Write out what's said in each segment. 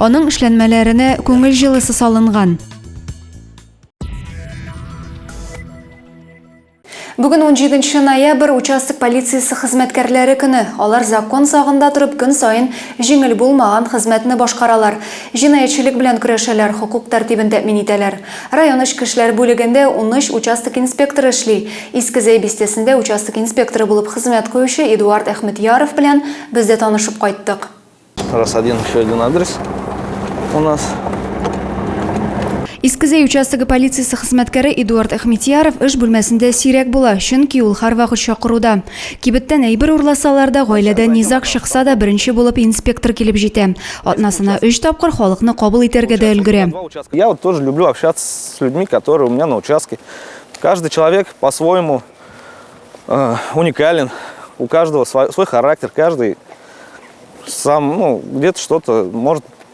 Аның эшләнмәләренә күңел җылысы салынган. Бүген 17 ноябрь участок полициясе хезмәткәрләре көне. Алар закон сагында торып көн саен җиңел булмаган хезмәтне башкаралар. Җинаятьчелек белән көрәшәләр, хокук тәртибен тәэмин итәләр. Район эчке эшләр бүлегендә унөч участок инспекторы эшли. Иске Зәй бистәсендә участок инспекторы булып хезмәт куючы Эдуард Әхмедьяров белән без дә танышып кайттык. Раз один еще один адрес у нас. Иске Зәй участогы полициясе хезмәткәре Эдуард Әхмедьяров эш бүлмәсендә сирәк була, чөнки ул һәрвакыт чакыруда. Кибеттән әйбер урласалар да, гаиләдә низаг чыкса да, беренче булып инспектор килеп җитә. Атнасына өч тапкыр халыкны кабул итәргә дә өлгерә. Я вот тоже люблю общаться с людьми, которые у меня на участке. Каждый человек по-своему уникален, у каждого свой характер, каждый сам, ну, где-то что-то может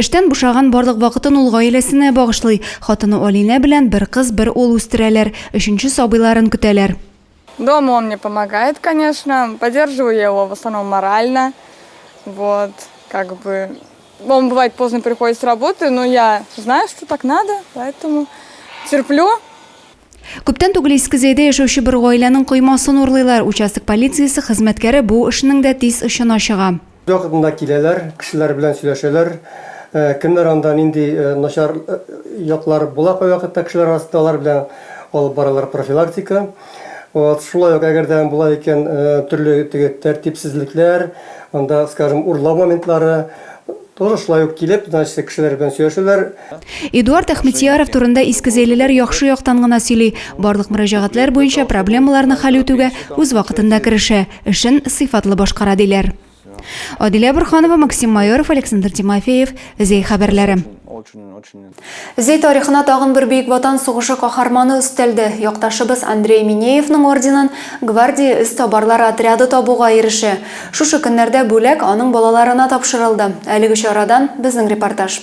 Эштән бушаган барлык вакытын ул гаиләсенә багышлый. Хатыны Алинә белән бер кыз, бер ул үстерәләр, өченче сабыйларын көтәләр. Дома он мне помогает, конечно, поддерживаю я его в основном морально, вот, как бы, он бывает поздно приходит с работы, но я знаю, что так надо, поэтому терплю. Күптән түгел Иске Зәйдә яшәүче бер гаиләнең коймасын урлыйлар. Участок полициясе хезмәткәре бу эшнең дә тиз очына чыга. Бервакытында киләләр, кешеләр белән сөйләшәләр. Кемнәр анда, нинди начар яклар була кайвакытта кешеләр арасында, алар белән алып баралар профилактика. Вот, шулай ук, әгәр дә була икән, төрле теге тәртипсезлекләр, анда, скажем, урлау моментлары, тоже шулай ук килеп, значит, кешеләр белән сөйләшәләр. Эдуард Әхмедьяров турында искезәйлеләр яхшы яктан гына сөйли, барлык мөрәҗәгатьләр буенча проблемаларны хәл үтүгә үз вакытында керешә. эшен сыйфатлы башкара, диләр. Адилә Борханова, Максим Майоров, Александр Тимофеев, Зәй хәбәрләре. Зәй тарихына тагын бер Бөек Ватан сугышы каһарманы өстәлде. Якташыбыз Андрей Минеевның орденын Гвардия эз табарлар отряды табуга ирешә. Шушы көннәрдә бүләк аның балаларына тапшырылды. Әлеге чарадан безнең репортаж.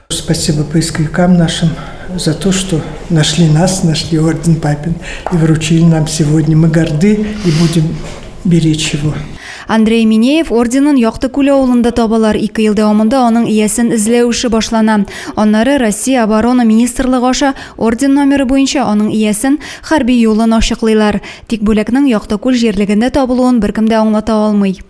Спасибо поисковикам нашим за то, что нашли нас, нашли орден Папин и вручили нам сегодня. Мы горды и будем беречь его. Андрей Минеев орденын Якты күле авылында табалар. Ике ел дәвамында аның иясен эзләү эше башлана. Аннары Россия оборона министрлыгы аша орден номеры буенча аның иясен хәрби юлын ачыклыйлар. Тик бүләкнең Якты күл җирлегендә табылуын беркем дә аңлата алмый.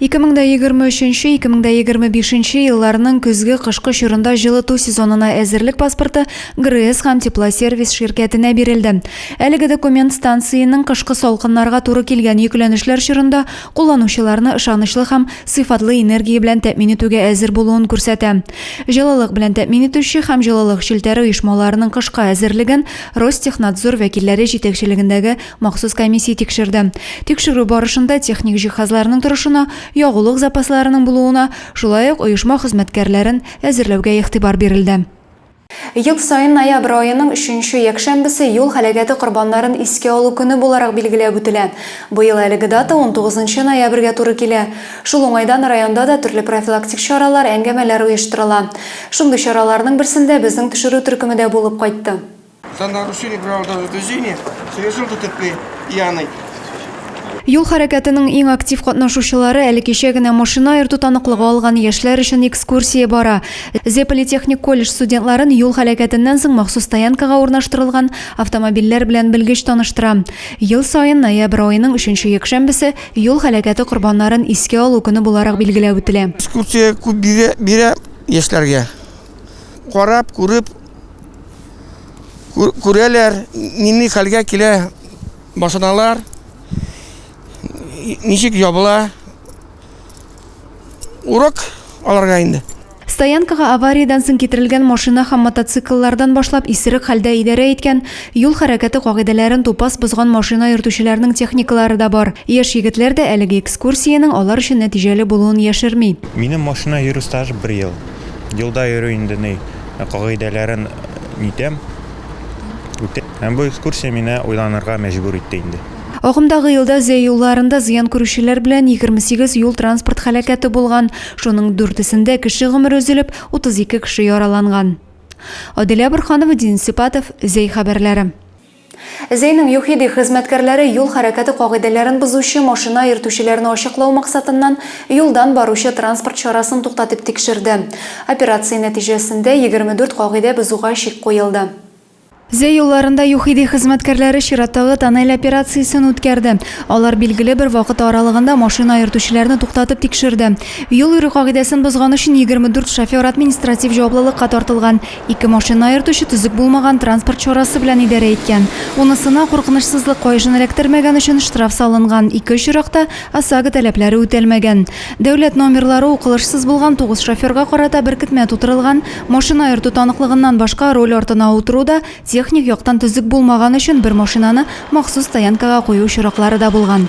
2023-2025 елларның көзге-кышкы чорында җылыту сезонына әзерлек паспорты ГРЭС һәм Теплосервис ширкәтенә бирелде. Әлеге документ станциянең кышкы салкыннарга туры килгән йөкләнешләр чорында кулланучыларны ышанычлы һәм сыйфатлы энергия белән тәэмин итүгә әзер булуын күрсәтә. Җылылык белән тәэмин итүче һәм җылылык челтәре оешмаларының кышка әзерлеген Ростехнадзор вәкилләре җитәкчелегендәге Махсус комиссия тикшерде. Тикшерү барышында техник җиһазларның торышына, ягулык запасларының булуына, шулай ук оешма хезмәткәрләрен әзерләүгә игътибар бирелде. Ел саен ноябрь аеның өченче якшәмбесе юл һәлакәте корбаннарын искә алу көне буларак билгеләп үтелә. Быел әлеге дата унтугызынчы ноябрьгә туры килә. Шул уңайдан районда да төрле профилактик чаралар, әңгәмәләр оештырыла. Шундый чараларның берсендә безнең төшерү төркеме дә булып кайтты. За нарушение правил дорожного движения с режимом ДТП пьяный. Юл хәрәкәтенең иң актив катнашучылары әле кичә генә машина аерту таныклыгы алган яшьләр өчен экскурсия бара. Зе политехник колледж студентларын юл һәлакәтеннән соң махсус стоянкага урнаштырылган автомобильләр белән белгеч таныштыра. Ел саен ноябрь аеның өченче якшәмбесе юл һәлакәте корбаннарын искә алу көне буларак билгеләп үтелә. Экскурсия күп бирә яшьләргә. Карап, күреп, күрәләр, нинди хәлгә килә машиналар, ничек ябыла. Урок аларга инде. Стоянкага авариядән соң китерелгән машина һәм мотоцикллардан башлап исерек хәлдә идарә иткән, юл хәрәкәте кагыйдәләрен тупас бозган машина йөртүчеләрнең техникалары да бар. Яшь егетләр дә әлеге экскурсиянең алар өчен нәтиҗәле булуын яшерми. Минем машина йөрү стажы бер ел. Юлда йөрү инде ни. кагыйдәләрен нитәм, үтәм. Һәм бу экскурсия мине уйланырга мәҗбүр итте инде. Агымдагы елда Зөя юлларында зыян күрүчеләр белән 28 юл-транспорт һәлакәте булган, шуның дүртесендә кеше гомере өзелеп, 32 кеше яраланган. Аделя Борһанова, Денис Сипатов, Зөй хәбәрләре. Зәйнең ЮХИДИ хезмәткәрләре юл хәрәкәте кагыйдәләрен бозучы машина йөртүчеләрне ачыклау максатыннан юлдан баручы транспорт чарасын туктатып тикшерде. Операция нәтиҗәсендә егерме дүрт кагыйдә бозуга чик куелды. Зәй юлларында ЮХИДИ хезмәткәрләре чираттагы тоннель операциясен үткәрде. Алар билгеле бер вакыт аралыгында машина йөртүчеләрне туктатып тикшерде. Юл йөрү кагыйдәсен бозган өчен егерме дүрт шофер административ җаваплылыкка тартылган. Ике машина аертучы төзек булмаган транспорт чарасы белән идарә иткән. Унысына куркынычсызлык каешын эләктермәгән өчен штраф салынган, ике очракта ОСАГО таләпләре үтәлмәгән. Дәүләт номерлары укылышсыз булган тугыз шоферга карата беркетмә тутырылган, машина аерту таныклыгыннан башка руль артына утыру да техник яктан төзек булмаган өчен бер машинаны махсус стоянкага кую очраклары да булган.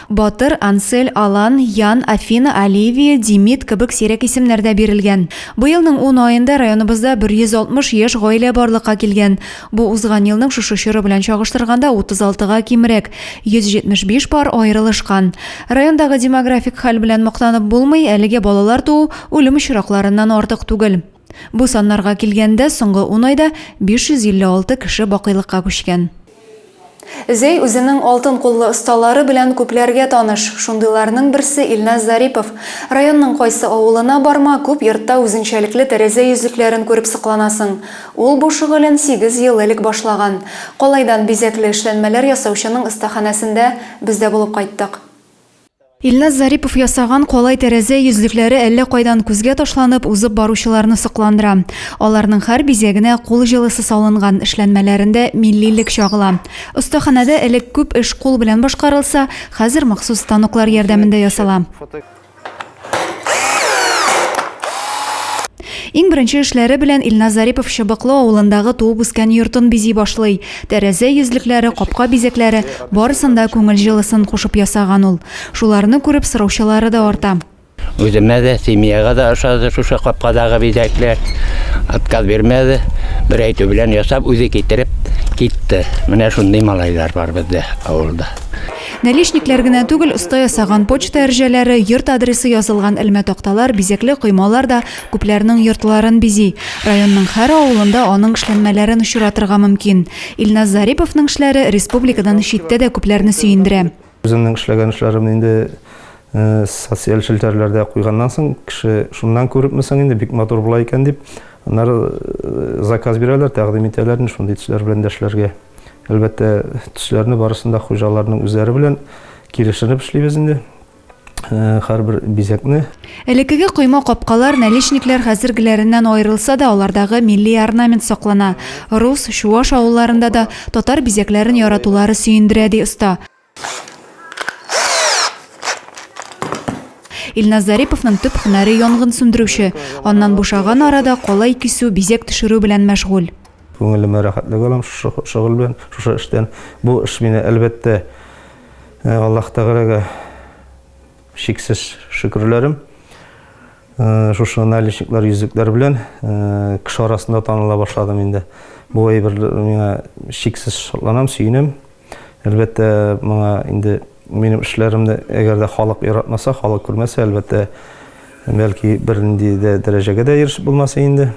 Батыр, Ансель, Алан, Ян, Афина, Оливия, Димит кебек сирәк исемнәр дә бирелгән. Быелның ун аенда районыбызда 160 яшь гаилә барлыкка килгән. Бу узган елның шушы чоры белән чагыштырганда 36 га кимрәк, 175 пар аерылышкан. Райондагы демографик хәл белән мактанып булмый, әлегә балалар туу үлем очракларыннан артык түгел. Бу саннарга килгәндә, соңгы ун айда 556 кеше бакыйлыкка күчкән. Зәй үзенең алтын куллы осталары белән күпләргә таныш. Шундыйларның берсе, Илназ Зарипов. Районның кайсы авылына барма, күп йортта үзенчәлекле тәрәзә йөзлекләрен күреп сокланасың. Ул бу шөгылен сигез ел элек башлаган. Калайдан бизәкле эшләнмәләр ясаучының остаханәсендә без дә булып кайттык. Илназ Зарипов ясаган калай тәрәзә йөзлекләре әллә кайдан күзгә ташланып, узып баручыларны сокландыра. Аларның хәр бизәгенә кул җылысы салынган, эшләнмәләрендә миллилек чагыла. Остаханәдә элек күп эш кул белән башкарылса, хәзер махсус станоклар ярдәмендә ясала. Иң беренче эшләре белән Илназ Зарипов Чыбыклы авылындагы туып-үскән йортын бизи башлый. Тәрәзә йөзлекләре, капка бизәкләре, барысын да күңел җылысын кушып ясаган ул. Шуларны күреп сораучылары да арта. Үземә дә, семьяга да ошады шушы капкадагы бизәкләр. Отказ бирмәде. Бер әйтү белән ясап, үзе китереп китте. Менә шундый малайлар бар бездә авылда. Наличниклар гына түгел, оста ясаган почта әрҗәләре, йорт адресы язылган элмә такталар, бизәкле коймалар да күпләрнең йортларын бизи. Районның һәр авылында аның эшләнмәләрен очратырга мөмкин. Илназ Зариповның эшләре республикадан читтә дә күпләрне сөендерә. Үземнең эшләгән эшләремне инде социаль челтәрләрдә куйганнан соң, кеше, шуннан күрепме соң инде, бик матур була икән дип, аннары заказ бирәләр, тәкъдим итәләр инде шундый төсләр белән дә эшләргә. Әлбәттә, төсләрне барысын да хуҗаларның үзләре белән килешенеп эшлибез инде. Э, һәрбер бизәкне. Элеккеге койма капкалар, наличниклар хәзергеләреннән аерылса да, алардагы милли орнамент саклана. Рус, чуаш авылларында да татар бизәкләрен яратулары сөендерә, ди оста. Илназ Зариповның төп һөнәре янгын сүндерүче. Аннан бушаган арада калай кисү, бизәк төшерү белән мәшгуль. Күңелемә рәхәтлек алам шушы шөгыль белән, шушы эштән. Бу эш мине, әлбәттә, э, Аллаһ Тәгаләгә чиксез шөкерләрем. Э, шушы наличниклар, йөзекләр белән э, кеше арасында таныла башладым инде. Бу әйбер миңа чиксез шатланам, сөенәм. Әлбәттә, моңа инде минем эшләремне әгәр дә халык яратмаса, халык күрмәсә, әлбәттә, бәлки бернинди дә дәрәҗәгә дә ирешеп булмас инде.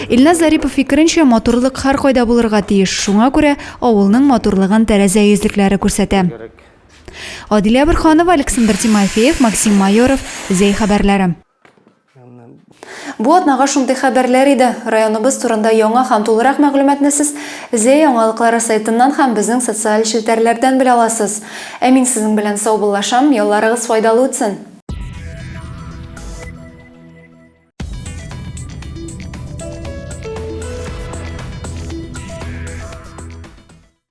Илназ Зарипов фикеренчә, матурлык һәркайда булырга тиеш, шуңа күрә авылның матурлыгын тәрәзә йөзлекләре күрсәтә. Адилә Борһанова, Александр Тимофеев, Максим Майоров, Зәй хәбәрләре. Бу атнага шундый хәбәрләр иде. Районыбыз турында яңа һәм тулырак мәгълүматны сез Зәй яңалыклары сайтыннан һәм безнең социаль челтәрләрдән белә аласыз. Ә мин сезнең белән саубуллашам, ялларыгыз файдалы үтсен!